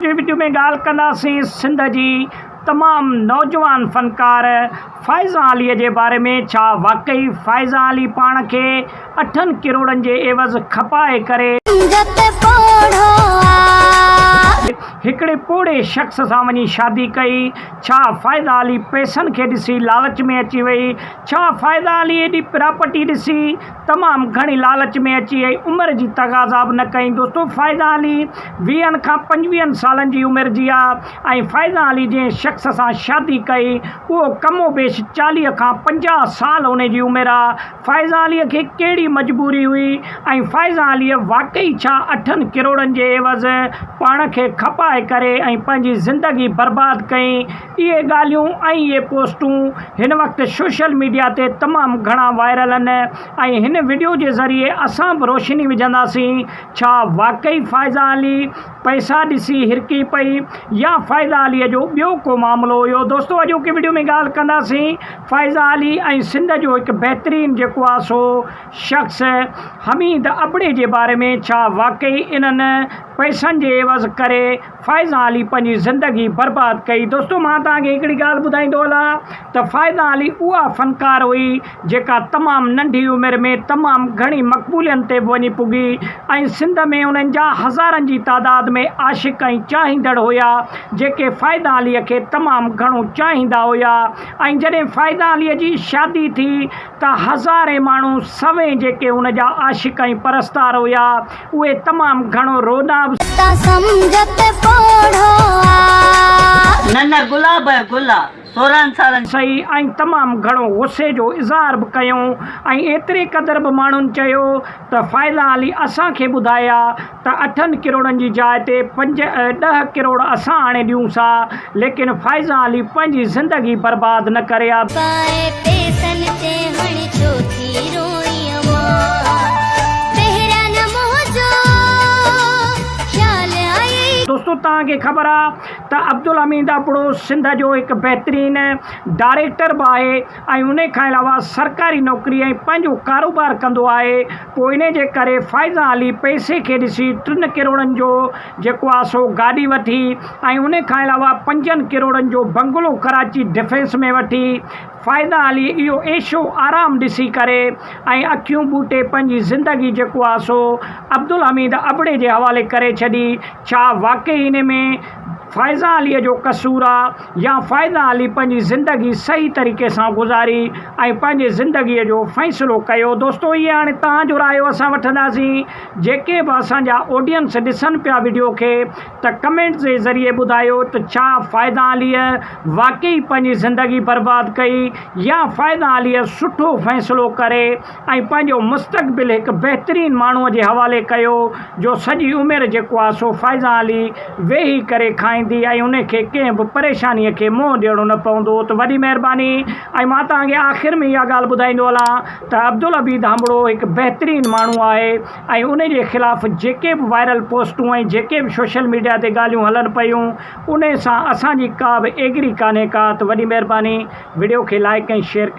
اڄ جي وڊيو ۾ ڳالهه ڪنداسين سنڌ جي تمام نوجوان فنڪار فائزه علي جي باري ۾ ڇا واقعي فائزه علي پاڻ کي اٺن ڪروڙن جي عيوض کپائي ڪري هڪڙي پوڙهي شخص سان وڃي شادي ڪئي ڇا فائزه علي پئسن کي ڏسي لالچ ۾ اچي وئي ڇا فائزه علي ايڏي پراپرٽي ڏسي تمام گهڻي لالچ ۾ اچي ۽ عمر جي تقاضا به نه ڪيائين. دوستو فائزه علي ويهن کان پنجويهن سالن جي عمر جي آ ۽ فائزه علي جنهن شخص سان شادي ڪئي اهو ڪم و بيش چاليهه کان پنجاهه سال ان جي عمر آ. فائزه علي کي ڪهڙي مجبوري هئي ۽ فائزه علي واقعي ڇا اٺن ڪروڙن جي عيوض پاڻ کي کپائي ڪري ۽ پنهنجي زندگي برباد ڪئي. اهي ڳالهيون ۽ اهي پوسٽون هن وقت سوشل ميڊيا تي تمام گهڻا وائرل آهن ۽ هن وڊيو جي ذريعي اسان به روشني وجهنداسين ڇا واقعي فائزه علي پئسا ڏسي هرکي پئي يا فائزه علي جو ٻيو ڪو معاملو هيو دوستو اڄوڪي وڊيو ۾ ڳالهه ڪنداسين فائزه علي ۽ سنڌ جو هڪ بهترين جيڪو آهي سو شخص حميد ابڙي جي باري ۾ ڇا واقعي انهن پئسن جي عيوض ڪري فائزه علي پنهنجي زندگي برباد ڪئي. دوستو مان توهان کي هڪڙي ڳالهه ٻڌائيندو هلان ته فائزه علي اها فنڪار هئي جيڪا تمام ننڍي عمر ۾ تمام گهڻي مقبولين تي به وڃي پڳي ۽ سنڌ ۾ انهن جا هزارن جي تعداد ۾ عاشق ۽ چاهيندڙ هيا جيڪي فائزه علي کي تمام گهڻو چاهيندا هيا ۽ جڏهن فائزه علي جي شادي ٿي ته هزارين ماڻهو سوين جيڪي هن جا عاشق ۽ پرستار هيا اهي تمام گهڻو روڏا به. ته سمجهه ته پوڙهو آ. نه نه گلاب ۽ گل آ سورهن سالن. سهي ۽ تمام گهڻو غصي جو اظهار به ڪيو ۽ ايتري قدر به ماڻهن چيو ته فائزه علي اسان کي ٻڌايا ته اٺن ڪروڙن جي جاء تي پنج ۽ ڏهه ڪروڙ اسان آڻي ڏيون سا ليڪن فائزه علي پنهنجي زندگي برباد نه ڪري آ. پائي پيسن تي هڻ ڇو ٿي روئين مان پهريان نه منهنجو خيال آيئي. دوستو توهان کي خبر آ ته عبدالحميد ابڙو سنڌ جو هڪ بهترين ڊائريڪٽر به آهي ۽ انهي کان علاوه سرڪاري نوڪري ۽ پنهنجو ڪاروبار ڪندو آهي پوء انهي جي ڪري فائزه علي پئسي کي ڏسي ٽن ڪروڙن جو جيڪو آهي سو گاڏي وٺي ۽ انهي کان علاوه پنجن ڪروڙن جو بنگلو ڪراچي ڊفينس ۾ وٺي فائزه علي اهو عيشو آرام ڏسي ڪري ۽ اکيون ٻوٽي پنهنجي زندگي جيڪو آهي سو عبدالحميد ابڙي جي حوالي ڪري ڇڏي ڇا واقعي انهي ۾ فائزه علي جو قصور آهي؟ يا فائده علي پنهنجي زندگي صحيح طريقي سان گذاري ۽ پنهنجي زندگي جو فيصلو ڪيو دوستو اهي هاڻي توهان جو رايو اسان وٺنداسين جيڪي به اسان جا آڊينس ڏسن پيا وڊيو کي ته ڪمينٽس جي ذريعي ٻڌايو ته ڇا فائده علي واقعي پنهنجي زندگي برباد ڪئي يا فائده علي سٺو فيصلو ڪري ۽ پنهنجو مستقبل هڪ بهترين ماڻهوء جي حوالي ڪيو جو سڄي عمر جيڪو آهي سو فائزان علي ويهي ڪري کائيندي ۽ ان کي ڪنهن به پريشانيء کي منهن ڏيڻو نه پوندو ته وڏي مهرباني ۽ مان توهان کي آخر ۾ اها ڳالهه ٻڌائيندو هلان ته عبدالعبيد هنبڙو هڪ بهترين ماڻهو آهي ۽ ان جي خلاف جيڪي به وائرل پوسٽون ۽ جيڪي به سوشل ميڊيا تي ڳالهيون هلن پيون انهي سان اسان جي ڪا به ايگري ڪانهي ڪا ته وڏي مهرباني وڊيو کي لائڪ ۽ شيئر ڪري